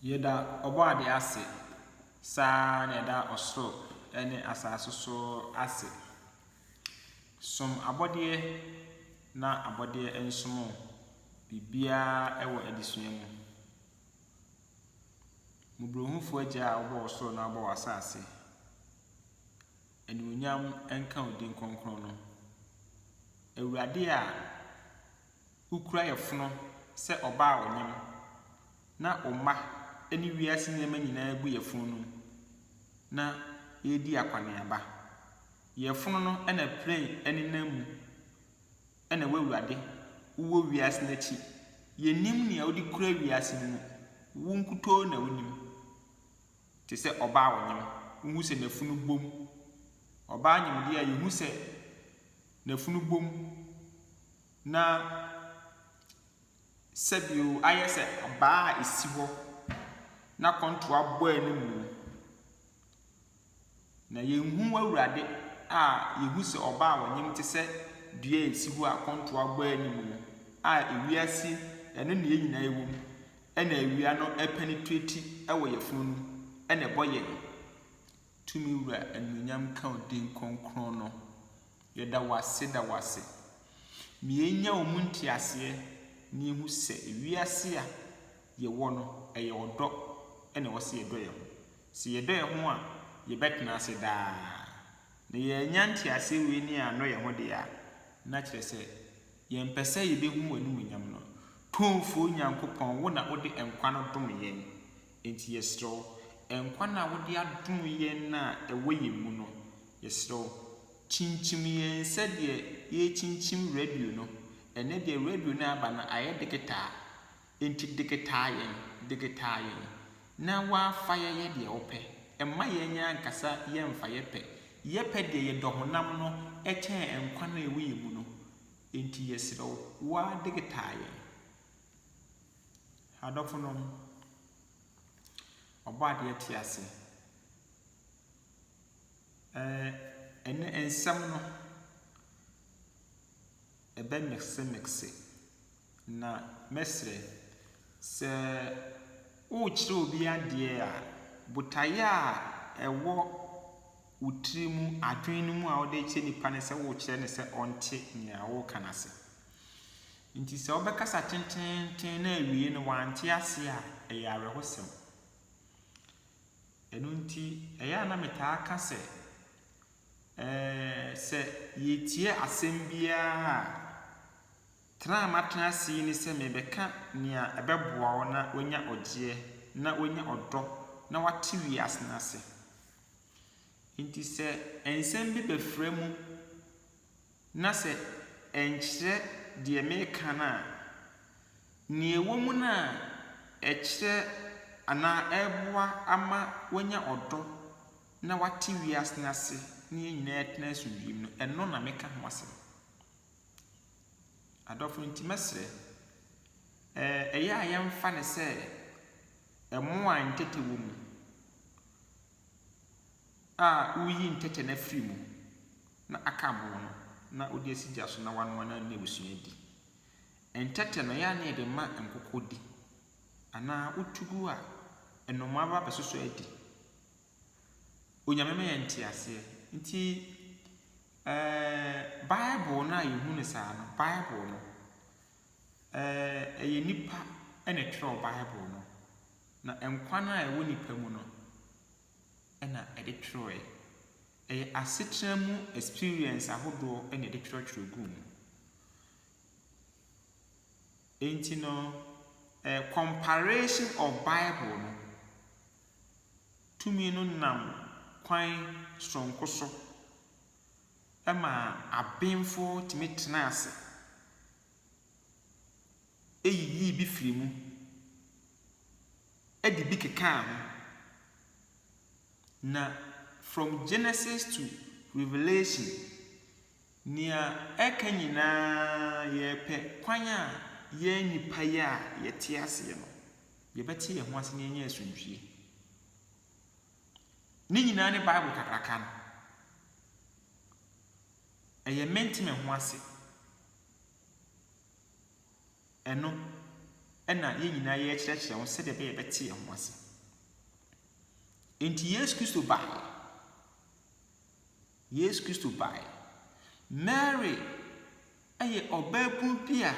Yɛda Ɔbɔadeɛ ase, saa ara na yɛda ɔsoro ne asase nso ase. Som abɔdeɛ na abɔdeɛ nsom wo, biribiara wɔ adesua mu. Mmɔborɔhunfoɔ Agya a wobɔɔ ɔsoro na wobɔɔ asase, animuonyam nka wo din kronkron no. Awurade a Wokura yafunu sɛ ɔbaa a ɔnyem, na wo mma ne wiase nneɛma nyinaa gu yafunu no mu, na ɛredi akɔneaba. Yafunu no na plane nenam mu, ɛna w'awurade, wowɔ wiase no akyi. Yɛnnim nea wode kura wiase no mu, wo nkutoo na wonim. Te sɛ ɔbaa a ɔnyem, wohu sɛ n'afunu bom. Ɔbaa nyem deɛ a, yɛhu sɛ n'afunu bom. Na sɛdeɛ ayɛ sɛ abaa a ɛsi hɔ na kɔntoa bɔ anim no, na yɛnhu w'Awurade a yɛhu sɛ ɔba a ɔnyem te sɛ dua a ɛsi hɔ a kɔntoa bɔ anim no, a ewiase ɛno na yɛn nyinaa ɛwɔ mu, ɛna awia no ɛpenetreti wɔ yɛn funu no mu ɛna ɛbɔ yɛn. Tumi Wura anuonyam nka wo din kronkron no. Yɛda wo ase da wo ase. Ma yɛnya wo mu nteaseɛ na yɛhu sɛ wiase a yɛwɔ no, ɛyɛ ɔdɔ na ɛwɔ sɛ yɛdɔ yɛn ho. Sɛ yɛdɔ yɛn ho a, yɛbɛtena ase daa. Na yɛannya nteaseɛ wei ne yɛannɔ yɛn ho deɛ a, na kyerɛ sɛ yɛmpɛ sɛ yɛbɛhunu w'animuonyam no. Tumfoɔ Nyankopɔn, wo na wode nkwa no dom yɛn. Enti yɛsrɛ wo, nkwa no a wode adom yɛn no a ɛwɔ yɛn mu no, yɛsrɛ wo, kyinkyim yɛn sɛdeɛ yɛrekyinkyim radio no. Ɛnnɛ deɛ radio no a aba no ayɛ deketaa, enti deketaa yɛn, deketaa yɛn, na woafa yɛyɛ deɛ wopɛ. Mma yɛn yɛn ankasa yɛmfa yɛ pɛ, yɛ pɛ deɛ yɛdɔ honam no kyɛn nkwa no a ɛwɔ yɛn mu no. Enti yɛsrɛ wo, wo ara deketaa yɛn. Adɔfonom, Ɔbɔadeɛ tse ase. Ɛɛ ne nsɛm no, ɛbɛmeksemekse, na mɛsrɛ, sɛ worekyerɛ obi adeɛ a, botaeɛ a ɛwɔ . wo tiri mu adwene no mu a wode rekyerɛ nipa no sɛ worekyerɛ no sɛ ɔnte nea woreka no ase. Nti sɛ wobɛkasa tenteenten na awiei no wante ase a, ɛyɛ awerɛhosɛm. Ɛno nti, ɛyɛ a na metaa ka sɛ, ɛɛ, sɛ yɛretie asɛm biara a, tra a matena ase yi ne sɛ merebɛka nea ɛbɛboa wo na woanya ɔgyeɛ, na woanya ɔdɔ, na woate wiase no ase. Enti sɛ nsɛm bi bɛfra mu na sɛ ɛnkyerɛ deɛ mereka no a, nea ɛwɔ mu no a ɛkyerɛ anaa ɛreboa ama wɔanya ɔdɔ na wɔate wiase no ase na yɛn nyinaa atena asomdwoeɛ mu no, ɛno na meka ho asɛm. Adɔfo, enti mɛsrɛ, ɛyɛ a yɛmfa no sɛ mmoa a ntɛtɛ wɔ mu a woyi ntɛtɛ no afiri mu na aka aboɔ no na wode asi gya so na wanoa na wone abusua adi. Ntɛtɛ no, ɛyɛ a na yɛde ma nkokɔ di. Anaa wotu gu a, nnomaa ba bɛsosɔ adi. Onyame ma yɛ nte aseɛ. Nti ɛɛɛ Bible no a yɛhu no saa no, Bible no, ɛɛɛ ɛyɛ nnipa na ɛtwerɛɛ Bible no. Na nkwa no a ɛwɔ nnipa mu no na ɛde twerɛɛ. Ɛyɛ asetena mu experience ahodoɔ na ɛde twerɛtwerɛ guu mu. Enti no eh, comparation of Bible no tumi no nam kwan soronko so maa abenfoɔ tumi tenaa ase yiyii bi firii mu de bi kekaa ho. Na from Genesis to Revelation, nea ɛka nyinaa yɛrepɛ kwan a yɛn nnipa yi a yɛte aseɛ no, yɛbɛte yɛn ho ase na yɛanya asomdwie. Ne nyinaa ne Bible kakraka no. Ɛyɛ mente me ho ase. Ɛno na yɛn nyinaa yɛrekyerɛkyerɛ ho sɛdeɛ ɛbɛyɛ yɛbɛte yɛn ho ase. Enti Yesu Kristo baeɛ. Yesu Kristo baeɛ. Mary yɛ ɔbaabunu bi a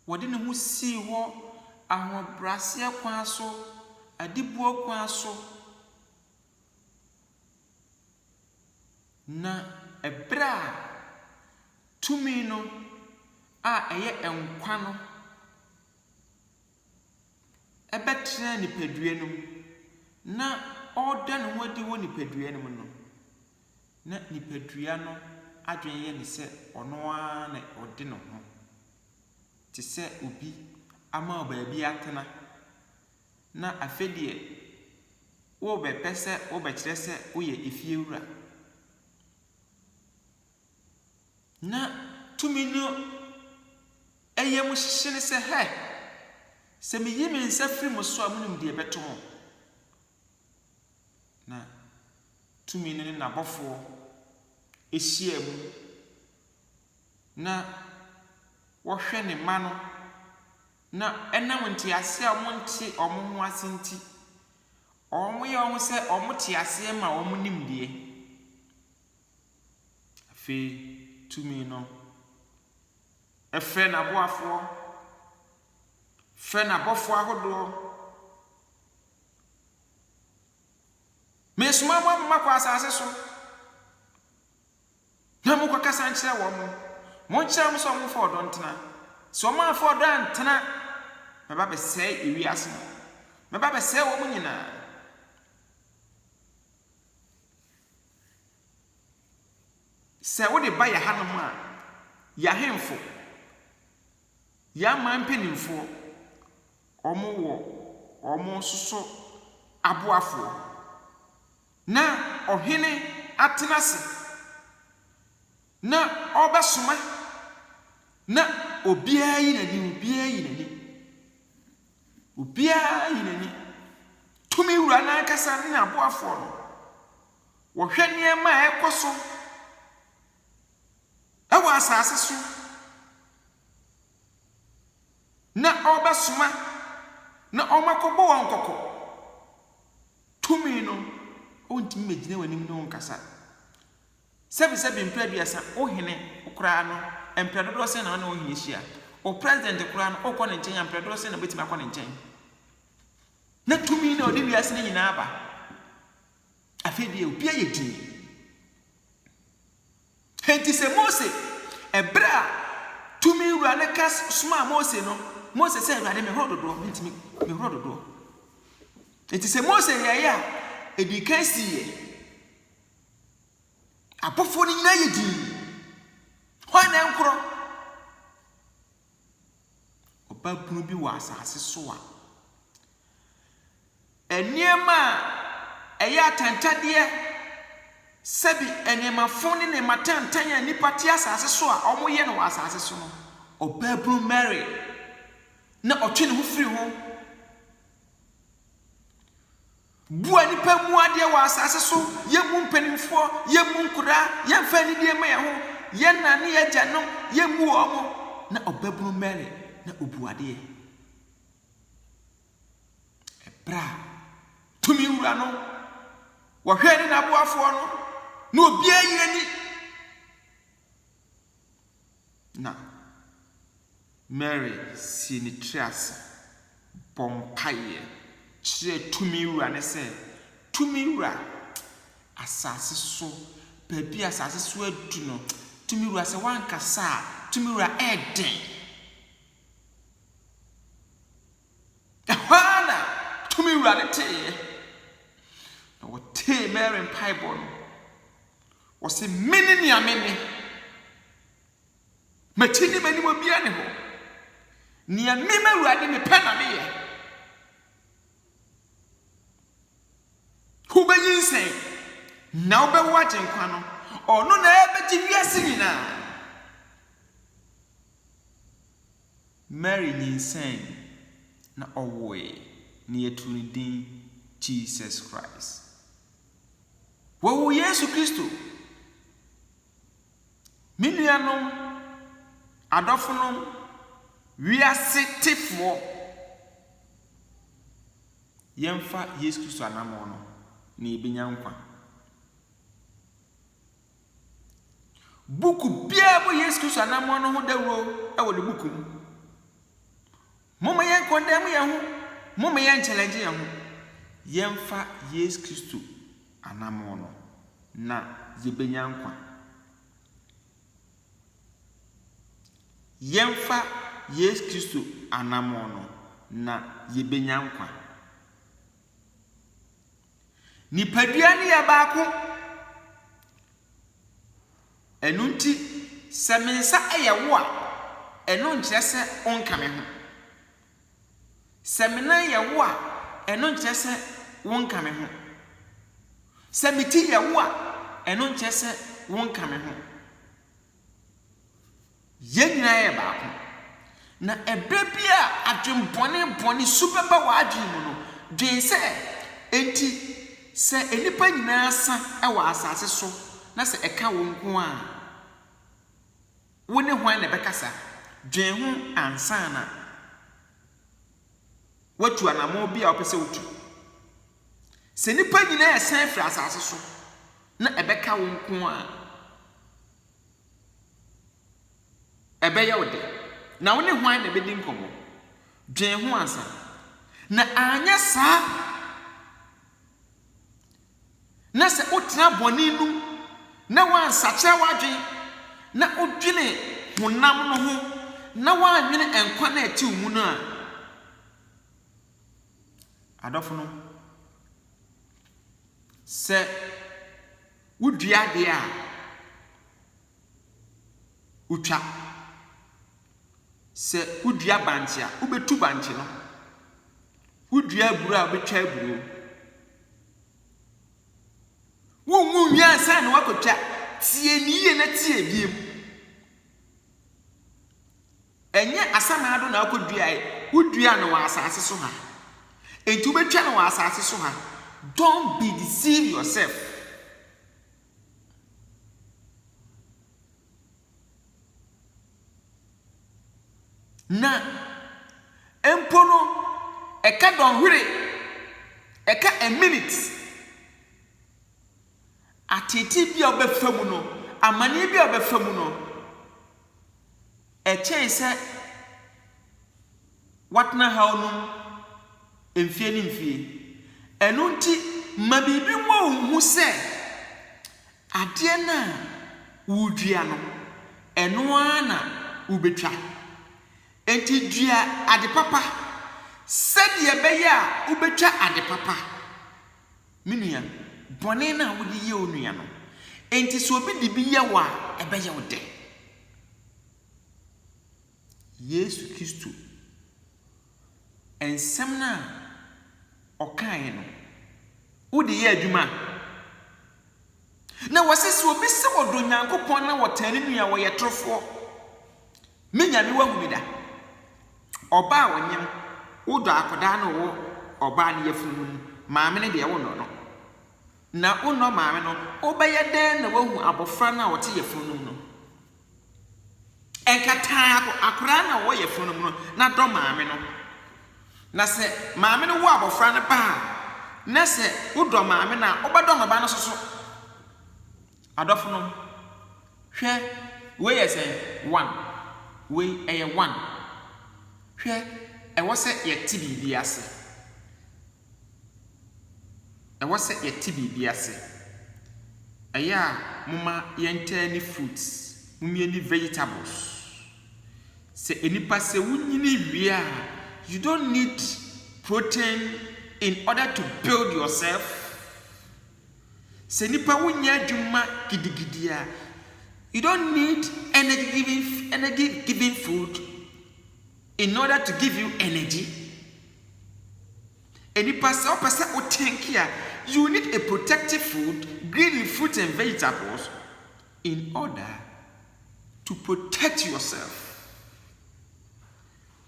ɔde ne ho sii hɔ ahobrɛaseɛ kwan so, adiboɔ kwan so. Na bere a tumi no a ɛyɛ nkwa no bɛtenaa nipadua no mu na ɔreda ne ho adi wɔ nipadua no mu no, na nipadua no adwene yɛ no sɛ ɔno ara na ɔde ne ho te sɛ obi ama baabi atena. Na afei deɛ worebɛpɛ sɛ wobɛkyerɛ sɛ woyɛ efiewura. Na tumi no yam hyehye no sɛ, Hɛ! Sɛ meyi me nsa firi mo so a, monim deɛ ɛbɛto mo. Na tumi no ne n'abɔfoɔ hyia mu, na wɔhwɛ ne mma no Na ɛnam ntease a wɔnte wɔn ho ase nti, wɔyɛ wɔn ho sɛ wɔte aseɛ ma wɔn nimdeɛ. Afei tumi no frɛ n'aboafoɔ, frɛ n'abɔfoɔ ahodoɔ. Meresoma mo ama moakɔ asase so. Na monkɔkasa nkyerɛ wɔn, monkyerɛ wɔn sɛ wɔmfa ɔdɔ ntena. Sɛ wɔamfa ɔdɔ antena a, mɛba abɛsɛe ewiase no, mɛba abɛsɛe wɔn nyinaa. Sɛ wode ba yɛn hanom a, yɛn ahemfo, yɛn aman mpanimfoɔ, wɔwɔ wɔn nso so aboafoɔ. Na ɔhene atena ase na ɔrebɛsoma, na obiara yi n'ani, obiara yi n'ani, obiara yi n'ani. Tumi Wura no ankasa ne n'aboafoɔ no, wɔhwɛ nneɛma a ɛrekɔ so wɔ asase so, na ɔrebɛsoma na wɔakɔbɔ wɔn kɔkɔ. Tumi no, ontumi mmegyina w'anim ne wo nkasa. Sɛbesɛbe mpre aduasa, wo hene koraa no, mpre dodoɔ sɛn na ɔne wo hene hyia? Wo president koraa no, wokɔ ne nkyɛn a, mpre dodoɔ sɛn na wobɛtumi akɔ ne nkyɛn? Na tumi na ɔde wiase no nyinaa aba. Afei deɛ, obiara yɛ dinn. Enti sɛ Mose, ɛberɛ a Tumi Wura no ka somaa Mose no, Mose sɛ, Awurade, mehoro dodoɔ, mentumi, mehoro dodoɔ. Enti sɛ Mose yɛeɛ a, ɛdii kan siiɛ. Abɔfoɔ no nyinaa yɛ dinn. Hwan na ɛnkorɔ? Ɔbabunu bi wɔ asase so a, Nneɛma a ɛyɛ atɛntɛdeɛ, sɛbi nneɛma fo ne nneɛma tenten a nnipa te asase so a wɔyɛ no wɔ asase so no, ɔbaabunu Mary na ɔtwe ne ho firi ho. Bua nnipa mmu adeɛ wɔ asase so, yɛmmu mpanimfoɔ, yɛmmu nkoraa, yɛmfa anidie mma yɛn ho, yɛn nna ne yɛn agyanom, yɛmmu wɔn, na ɔbaabunu Mary na ɔbu adeɛ. Ɛberɛ a tumi wura no wɔhwɛɛ ne n'aboafoɔ no, na obiara yi n'ani. Na Mary sii ne tiri ase bɔ mpaeɛ kyerɛɛ tumi wura no sɛ, Tumi wura, asase so, baabi a asase so adu no, tumi wura, sɛ woankasa a, tumi wura, ɛyɛ den. Ɛhɔ ara na tumi wura no teeɛ, na wɔtee Mary mpaebɔ no. Wɔse, Mene nea mene. M'akyi ne m'anim obiara nni hɔ. Nea me, m'Awurade, mepɛ na meyɛ. Wobɛnyinsɛn, na wobɛwo Agyenkwa no. Ɔno na ɛbɛgye wiase nyinaa. Mary nyinsɛnee, na ɔwoe, na yɛtoo ne din Jesus Christ. Wɔwoo Yesu Kristo. Me nuanom, adɔfonom, wiase tefoɔ, yɛmfa Yesu Kristo anammɔn no, na yɛbɛnya nkwa. Buku biara bɔ Yesu Kristo anammɔn no ho dawuro wɔ ne buku mu. Momma yɛnkɔndɛm yɛn ho, momma yɛnkyɛlɛngye yɛn ho. Yɛmfa Yesu Kristo anammɔn no, na yɛbɛnya nkwa. Yɛmfa Yesu Kristo anammɔn no, na yɛbɛnya nkwa. Nipadua no yɛ baako. Ɛno nti, sɛ me nsa yɛ wo a, ɛno nkyerɛ sɛ wonka me ho. Sɛ me nan yɛ wo a, ɛno nkyerɛ sɛ wonka me ho. Sɛ me ti yɛ wo a, ɛno nkyerɛ sɛ wonka me ho. Yɛn nyinaa yɛ baako. Na ɛberɛ bi a adwen bɔne bɔne su bɛba w'adwen mu no, dwen sɛ, Enti sɛ nnipa nyinaa sa wɔ asase so na sɛ ɛka wo nko a, wo ne hwan na ɛbɛkasa? Dwen ho ansa na woatu anammɔn bi a wopɛ sɛ wotu. Sɛ nnipa nyinaa resan afiri asase so na ɛbɛka wo nko a, ɛbɛyɛ wo dɛ. Na wo ne hwan na ɛbɛdi nkɔmmɔ? Dwen ho ansa. Na anyɛ saa na sɛ wotena bɔne no mu na woansakyera w'adwene na wodwene honam no ho na woannwene nkwa no a ɛte wo mu no a, Adɔfonom, sɛ wodua adeɛ a, wotwa. Sɛ wodua bankye a, wobɛtu bankye no. Wodua aburo a, wobɛtwa aburo. Wonwu nwie ansa na woakɔtwa. Tie ne yie na tie ebiem. Ɛnyɛ asamena do na akoduae, woduaa no wɔ asase so ha. Enti wobetwa no wɔ asase so ha. Don't be deceive yourself. Na mpo no, ɛka dɔnhwere, ɛka a minute. Ateetee bi a ɔbɛfa mu no, amaneɛ bi a ɔbɛfa mu no, ɛkyɛe sɛ watena haw no mu mfeɛ ne mfeɛ. Ɛno nti, ma biribi mmɔ wo hu sɛ adeɛ no a woredua no, ɛno ara na wobɛtwa. Enti dua ade papa sɛdeɛ ɛbɛyɛ a wobɛtwa ade papa. Me nua, bɔne no a wode yɛ wo nua no, enti sɛ obi de bi yɛ wo a, ɛbɛyɛ wo dɛ? Yesu Kristo nsɛm no a ɔkaeɛ no, wode yɛ adwuma? Na wɔse sɛ obi se wɔdɔ Nyankopɔn na wɔtaa ne nua a, wɔyɛ torofoɔ. Me Nyame w'ahu me da? Ɔba a ɔnyem wo dɔ akɔdaa no wo ɔbaa ne yafunu no mu maame no deɛ wonnɔ no na wonnɔ maame no wobɛyɛ dɛn na woahu abɔfra no a ɔte yafunu no mu no ɛnkataa akoraa no a ɔwɔ yafunu no mu no na dɔ maame no na sɛ maame no wo abɔfra no ba a na sɛ wodɔ maame no a wobɛdɔ no ba no soso Adɔfonom, hwɛ, wei yɛ sɛ one, wei, ɛyɛ one. Hwɛ, ɛwɔ sɛ yɛte biribi ase. Ɛwɔ sɛ yɛte biribi ase. Ɛyɛ a momma yɛntɛɛ ne fruits, momie ne vegetables. Sɛ nnipa sɛ wonyini wie a, you don't need protein in order to build yourself. Sɛ nnipa wonyɛ adwuma gidigidi a, you don't need energy giving energy giving food in order to give you energy. Nnipa sɛ wopɛ sɛ wo tank a, you need a protective food, green fruits and vegetables in order to protect yourself.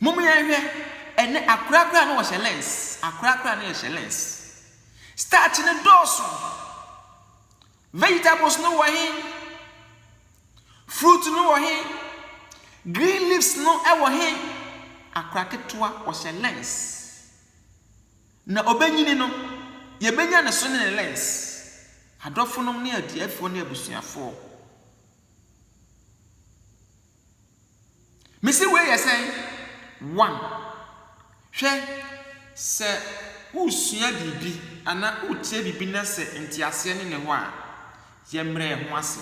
Mom yɛnhwɛ, ɛnɛ akora koraa no wɔhyɛ lens, akora koraa no yɛhyɛ lens. Starch no dɔɔso. Vegetables no wɔ he? Fruit no wɔ he? Green leaves no wɔ he? Akora ketewa wɔhyɛ lens. Na obenyini no, yɛbɛnya ne so ne ne lens. Adɔfonom ne adiafoɔ ne abusuafoɔ. Mese wei yɛ sɛn? One, hwɛ, sɛ woresua biribi anaa worekyerɛ biribi na sɛ nteaseɛ ne ne hɔ a, yɛmmrɛ yɛn ho ase.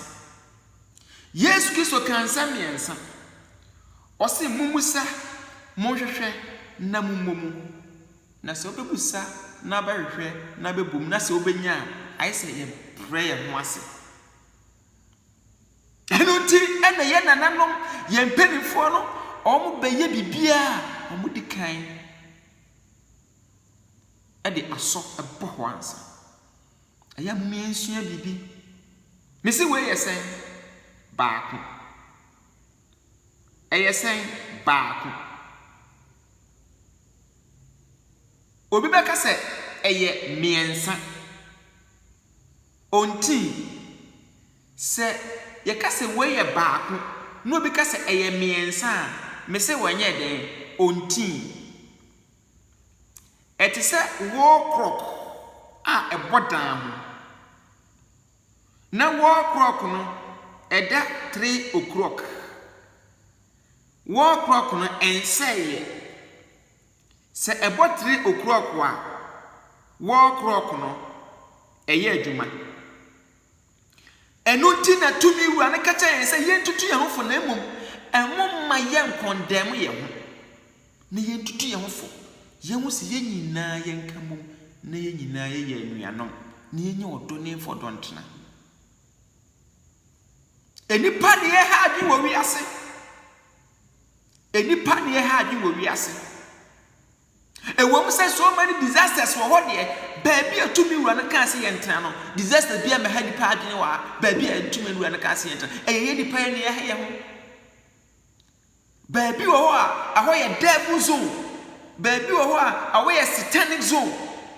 Yesu Kristo kaa nsɛm mmiɛnsa. Ɔse mommisa, monhwehwɛ, na mommɔ mu. Na sɛ wobɛbisa na wobɛhwehwɛ na wobɛbɔ mu na sɛ wobɛnya a, ayɛ sɛ yɛbrɛ yɛn ho ase. Ɛno nti na yɛn nananom, yɛn mpanimfoɔ no, wɔbɛyɛ biribiara a wɔdi kan de asɔ bɔ hɔ ansa. Ɛyɛ a momma yɛnsua biribi. Mese wei yɛ sɛn? Baako. Ɛyɛ sɛn? Baako. Obi bɛka sɛ ɛyɛ mmiɛnsa. Ontee. Sɛ Yɛka sɛ wei yɛ baako na obi ka sɛ ɛyɛ mmiɛnsa a, mese wɔnyɛɛ dɛn? Ontee. Ɛte sɛ wall clock a ɛbɔ dan ho, na wall clock no ɛda three o'clock. Wall clock no ɛnsɛeɛ. Sɛ ɛbɔ tre okurɔko a, wɔɔ kurɔko no, ɛyɛ adwuma. Ɛno nti na tumi wura no ka kyerɛ yɛn sɛ yɛntutu yɛn ho fo na mmom ɛho mma yɛnkɔndɛɛm yɛn ho, na yɛntutu yɛn ho fo, yɛnhu sɛ yɛn nyinaa yɛnka mmom na yɛn nyinaa yɛyɛ anuanom, na yɛnyɛ ɔdɔ ne mfa ɔdɔ ntena. Nnipa deɛ ɛha adwene wɔ wiase. Nnipa nni ɛha adwene wɔ wiase. Ɛwom sɛ so many disasters wɔ hɔ deɛ, baabi a tumi wura no kaa sɛ yɛntena no, disaster biara mmɛha nnipa adwene wɔ ha, baabi a tumi wura no kaa sɛ yɛntena. Ɛyɛ yɛn nnipa yɛn na yɛha yɛn ho. Baabi wɔ hɔ a, ɛhɔ yɛ devil zone. Baabi wɔ hɔ a, ɛhɔ yɛ satanic zone.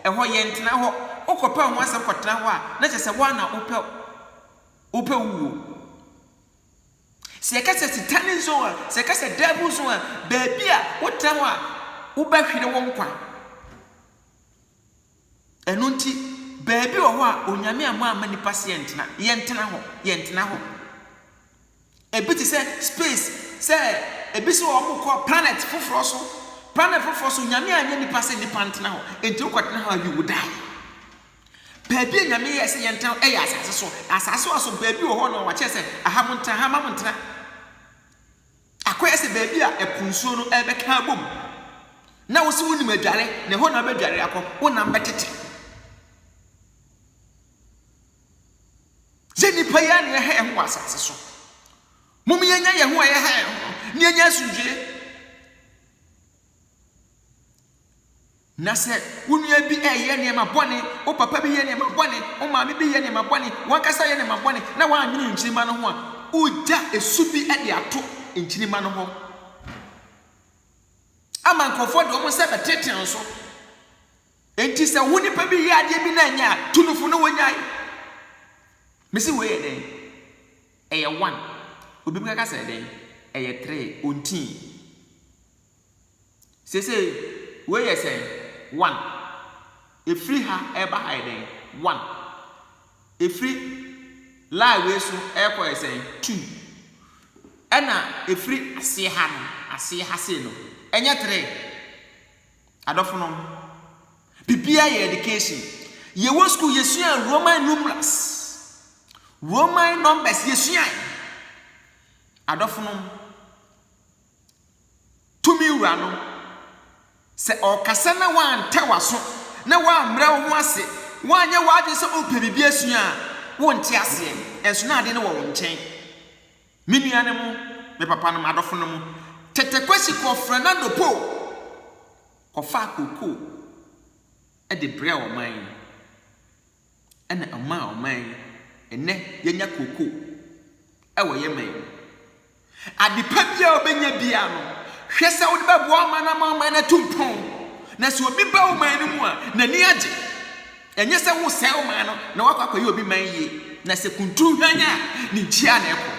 Ɛhɔ yɛntena hɔ. Wokɔpɛ ho asɛm kɔtena hɔ a, na kyerɛ sɛ wo ara na wopɛ wopɛ wo wuo. Sɛ yɛka sɛ Sitane nson a, sɛ yɛka sɛ Daabu nson a, baabi a wotena hɔ a wobɛhwere wo nkwa. Ɛno nti, baabi wɔ hɔ a Onyame ammɔ amma nnipa sɛ yɛntena, yɛntena hɔ, yɛntena hɔ. Ebi te sɛ space, sɛ ebi sɛ wɔn kɔ planet foforɔ so, planet foforɔ so Onyame anyɛ nnipa sɛ nnipa ntena hɔ, enti wokɔtena hɔ a you will die. Baabi a Nyame yɛɛ sɛ yɛntra no yɛ asase so. Na asase so aso baabi wɔ hɔ no a wakyerɛ sɛ, aha montra, ha mma montra. Akɔyɛ sɛ baabi a ɛpo nsuo no ɛrebɛka abom. Na wo se wonim adware, na ɛhɔ na wobɛdware akɔ, wo nam bɛtete. Yɛ nnipa yi a na yɛha yɛn ho wɔ asase so. Mom yɛnya yɛn ho a yɛha yɛn ho no, na yɛnya asomdwoeɛ. Na sɛ wo nua bi reyɛ nneɛma bɔne, wo papa bi yɛ nneɛma bɔne, wo maame bi yɛ nneɛma bɔne, w'ankasa yɛ nneɛma bɔne, na woannwene nkyirimma no ho a, wogya su bi de ato nkyirimma no hɔ ama nkurɔfoɔ de wɔn nsa bɛtenetene wo so. Enti sɛ wo nipa bi yɛ adeɛ bi na ɛnyɛ a, tu no fo na wagyae. Mese wei yɛ dɛn? Ɛyɛ one. Obi bɛka sɛ ɛdɛn? Ɛyɛ three. Ɔntii. Seesei, wei yɛ sɛn? One. Efiri ha ɛreba ha yɛ dɛn? One. Efiri line wei so ɛrekɔ yɛ sɛn? Two. Ɛna efiri aseɛ ha no, aseɛ ha sei no, ɛnyɛ three? Adɔfonom, biribiara yɛ education. Yɛwɔ sukuu, yɛsua Roman numerals, Roman numbers, yɛsuae. Adɔfonom, Tumi Wura no, sɛ ɔrekasa na woantɛ w'aso na woammrɛ wo ho ase, woanyɛ w'adwene sɛ worepɛ biribi asua a, wonte aseɛ, nanso na adeɛ no wɔ wo nkyɛn. Me nuanom, me papanom, adɔfonom, Tete Kwasi kɔɔ Fernando Po kɔfaa kookoo de brɛɛ ɔman no. Ɛna ɔmaa ɔman yi ɛnɛ yɛnya kookoo ɛwɔ yɛ man mu. Ade pa biara a wobɛnya biara no hwɛ sɛ wode bɛboa ɔman no ama ɔman no atu mpɔn. Na sɛ obi ba wo man no mu a n'ani agye. Ɛnyɛ sɛ wosɛe ɔman no na woakɔ akɔyɛ obi man yie. Na sɛ kunturu hwanyan a ne nkyia na ɛkɔ.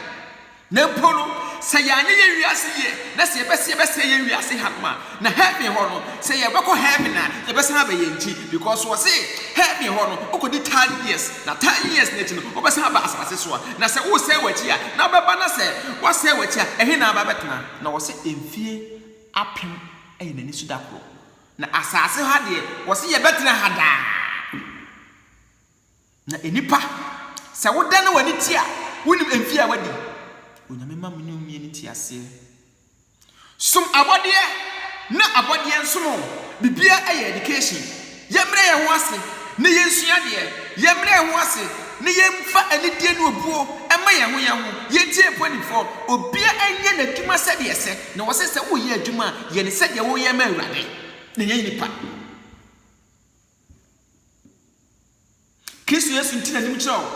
Na mpo no, sɛ yɛannyɛ yɛn wiase yie na sɛ yɛpɛ sɛ yɛbɛsɛe yɛn wiase hanom a, na heaven hɔ no, sɛ yɛbɛkɔ heaven a, yɛbɛsan aba yɛn ti. Because wɔ se, heaven hɔ no, wokɔdi thousand years, na thousand years no akyi no, wobɛsan aba asase so a, na sɛ wosɛe w'akyi a, na wobɛba na sɛ woasɛe w'akyi a, ɛhe na aba abɛtena? Na wɔ se mfie apem yɛ n'ani so da koro. Na asase ha deɛ, wɔ se yɛbɛtena ha daa. Na enipa, sɛ wo dane w'ani tie a, wonim emfie a w'adi. Onyame ma mene omie ne nteaseɛ. Som abɔdeɛ na abɔdeɛ nsom o, bibiaa yɛ education. Yɛmrɛ yɛn ho ase na yɛnsua adeɛ, yɛmrɛ yɛn ho ase na yɛnfa anidie ne obuo mma yɛn ho yɛn ho, yɛntie mpɔnifoɔ, obiaa nyɛ n'adwuma sɛdeɛ ɛsɛ, na wɔse sɛ woreyɛ adwuma a, yɛ no sɛdeɛ woreyɛ ma Awurade, na nyɛ nipa. Kristo Yesu nti n'anim kyerɛ wo,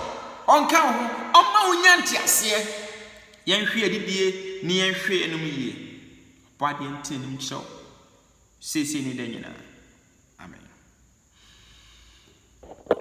ɔnka wo ho, ɔmma wo nya nteaseɛ. Yɛnhwe adidie ne yɛnhwe anom yie. Ɔbɔ adeɛ nti n'anim kyerɛ wo, seesei ne da nyinaa. Amen.